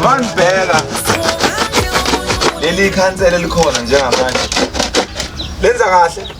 Manibheka leli khansela elikhona njengamanje lenza kahle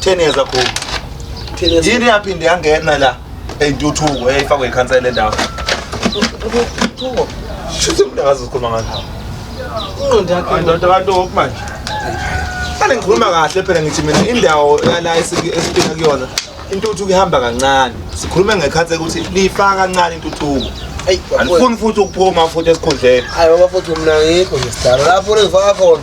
10 years ago yini yaphinde yangena la eyintuthuko eyayifakwe ikhansela endawo intuthuko shuthi mntakazi uzikhuluma ngani ingqondo yakhe indoda abantu okumanje Kale ngikhuluma kahle phela ngithi mina indawo yala esiphinga kuyona intuthuko ihamba kancane sikhulume ngekhathe ukuthi lifaka kancane intuthuko ayifuni futhi ukuphuma futhi esikhundleni hayi baba futhi mina ngikho nje sidala lapho levaka khona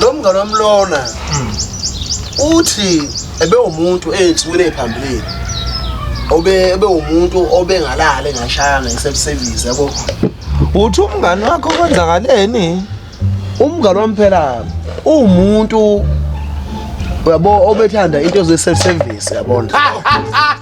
lo mngane wami lona uthi ebewumuntu ey'nsukwini ey'phambilini obe ebewumuntu obengalala engashayanga ngisebusevizi yabo uthi umngane wakho kwenzakaleni umngane wami phela uwumuntu uyabo obethanda into ze-self service yabona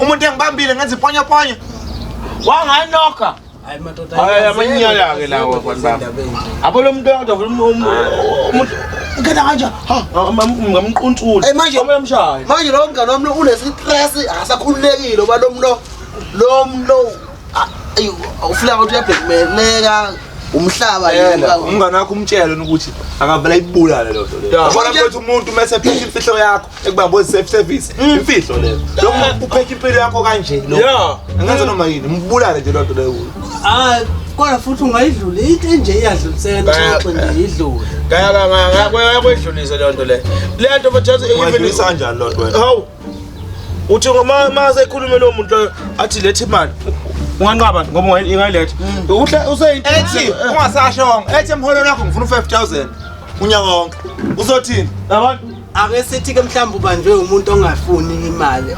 umuntu engibambile ngenza iponyoponyo wanganoka hayi madoda hayi amanyala ke lawo abantu bami abo lo muntu kodwa umuntu ngena kanje ngamquntula hey manje omshayo manje lo mngane wami unestress akasakhululekile oba lo mlo lo mlo ufuna ukuthi uyabhekmeleka umhlaba yena umngane wakho umtshele ukuthi akavela ibulale lo nto le yabona ukuthi umuntu mase phethe imfihlo yakho ekubamboni safe service mm. imfihlo leyo lokho eh. uphekha impilo yakho kanje lo angenza noma yini mbulale nje lonto leyo ah kodwa futhi ungayidlula into enje iyadlulisela nxoxo nje idlule ngayakwedlulisa leyo nto leyo le nto bathatha kanjani loo nto hawu uthi ma sekhulume lowo muntu loyo athi letha imali unganqaba ngoba ingayiletha mm. useyithi ungasashonga ethi emholweni wakho ngifuna u-five thousand unyaka wonke uzothini abantu ake sithi ke mhlawumbe ubanjwe umuntu ongafuni imali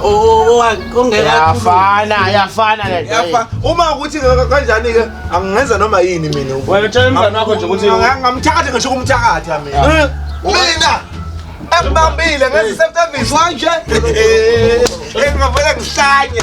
ongekayafana yafana leyafa uma ukuthi kanjani ke angenza noma yini mina wayotshela umzana wakho nje ukuthi ngamthakathe ngisho kumthakatha mina eh, mina akubambile ngezi service wanje engavele ngihlanye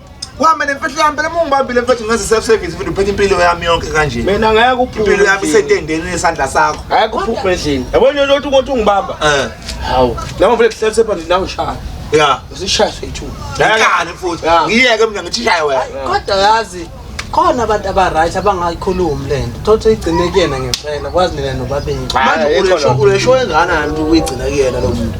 Wama nemfihlo yami phela uma ungibambile mfethu ngaze self service futhi uphethe impilo yami yonke kanje. Mina ngeke uphuphe. Impilo yami isetendeni nesandla sakho. Ngeke uphuphe endlini. Yabona lento ukuthi ungibamba. Eh. Hawu. Nami mfethu self service nawe shaya. Yeah. Usishaya sethu. Ngikane futhi. Ngiyeke mina ngithi shaya wena. Kodwa yazi khona abantu abaright abangayikhulumi le nto thothi uyigcine kuyena ngempela kwazi nina nobabili manje ulesho enganani ukuthi uyigcina kuyena lo muntu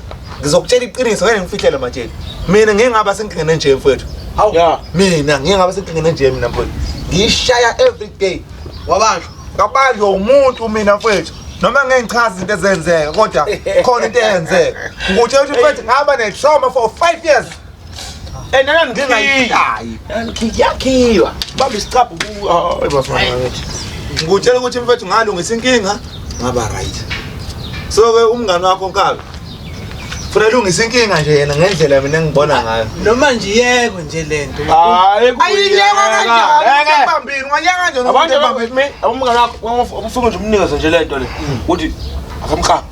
ngizokutshela iqiniso ngeke ngifihlele matsheni mina ngeke ngaba senkingeni enje mfowethu hawu yeah. mina ngeke ngaba senkingeni enje mina mfowethu ngiyishaya every day wabanjwa kabanjwa umuntu mina mfowethu noma ngeke ngichaze izinto ezenzeka kodwa khona into eyenzeka ngikutshela ukuthi mfowethu ngaba ne-trauma for five years enana ngingayishayi yakhiwa baba isicabhu ngikutshela ukuthi mfethu ngalungisa inkinga ngaba right so ke umngane wakho nkabi funa lungisa inkinga nje yena ngendlela mina ngibona ngayo noma nje yekwe nje lento hayi ayiyeka kanjani bambini ngayeka kanjani abantu bambini umngane wakho ufuna nje umnikeze nje lento le ukuthi akamqaphi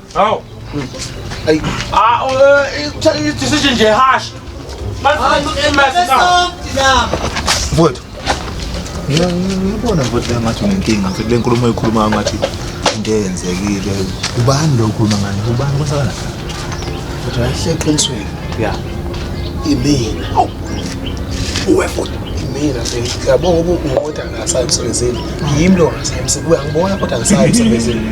Aw. Ay. Ah, eh decision nje harsh. Mfowethu. Ngibona mfowethu ngathi unenkinga mfowethu le nkulumo oyikhuluma ngathi into eyenzekile. Ubani lo ukhuluma ngani? Ubani kwasakala? Futhi ahle eqinisweni. Yeah. Imina. Aw. Uwe futhi mina nje ngiyabonga ukuthi ungoda ngasayi emsebenzini yimi lo ngasayi emsebenzini uyangibona kodwa ngisayi emsebenzini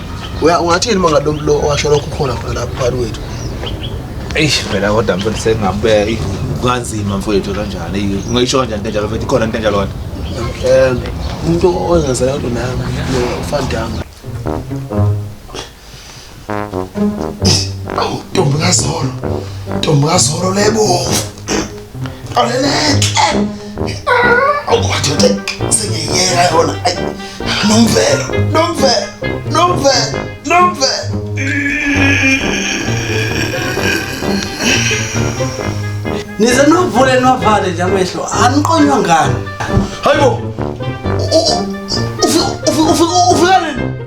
ungathini uma ngalo mlo owasho lokho ukhona khona lapho phakathi kwethu eish phela kodwa mfethu sengabe kanzima mfethu kanjani eyi ungayisho kanjani kanjalo mfethu ikhona into enjalo kodwa um umuntu ozenzela kodwa nami ufandama awu ntombi kazolo ntombi kazolo lebovu nivale nje amehlo aniqonywa ngani hayibo ufika nini